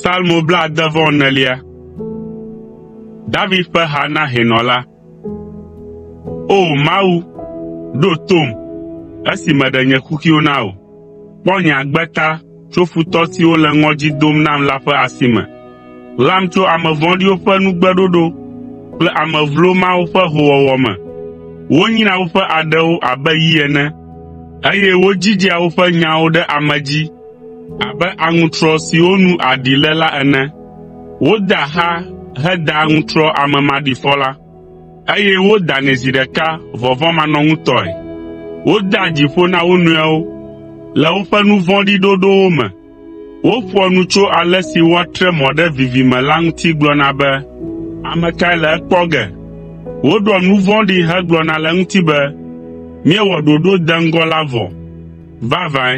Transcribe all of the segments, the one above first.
Salmo blaade vɔ enelia. David ƒe ha na hɛnɔ la. O Mawu, ɖo tom, esi meɖe nye kuxiwo na wò; kpɔ nye agbe ta tso futɔ siwo le ŋɔdzi dom nam la ƒe asi me. Ɣlam tso ame vɔ̃ɖiwo ƒe nugbeɖoɖo kple ame vlo mawo ƒe hoowɔwɔ me. Wonyrea woƒe aɖewo abe yi ene, eye wodzidzea woƒe nyawo ɖe ame dzi abe aŋutrɔ siwo nu aɖi le la ene. Wodea xa hedaa aŋutrɔ ame maɖifɔ la, eye wodanɛ zi ɖeka vɔvɔ̃manɔŋutɔe. Wodea dzi ƒo na wo nɔewo le woƒe nu vɔ̃ɖi ɖoɖowo me. Woƒoa nu tso ale si woatre mɔ ɖe vivi me la ŋuti gblɔna be, “Ame kae le ekpɔ ge?” Woɖoa nu vɔ̃ɖi hegblɔna le eŋuti be, “Míewɔ ɖoɖo deŋgɔ la vɔ.” Vavãe,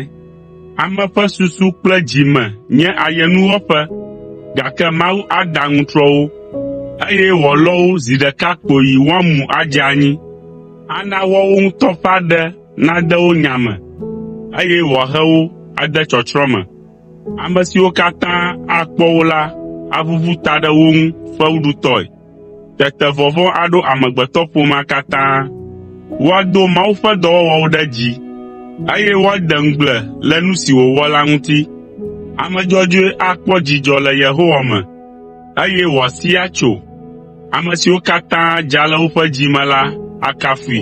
ame ƒe susu kple dzi me nye ayenuwɔƒe, gake Mawu ada aŋutrɔ wo, eye wòalɔ wo zi ɖeka kpoyi woamu adze anyi. Ana woawo ŋutɔ ƒe aɖe nade wo nya me, eye wòahe wo ade tsɔtsrɔ̃ me. Ame siwo katã akpɔ wo la aʋuʋu ta ɖe wo ŋu fewuɖutɔe. Tete vɔvɔ̃ aɖo amegbetɔƒomea katã. Woado Mawu ƒe dɔwɔwɔwo ɖe dzi, eye woade ŋugble le nu si wòwɔ la ŋuti. Ame dzɔdzɔe akpɔ dzidzɔ le Yehowa me, eye wòasi atso. Ame siwo katã dza le woƒe dzi me la akafui.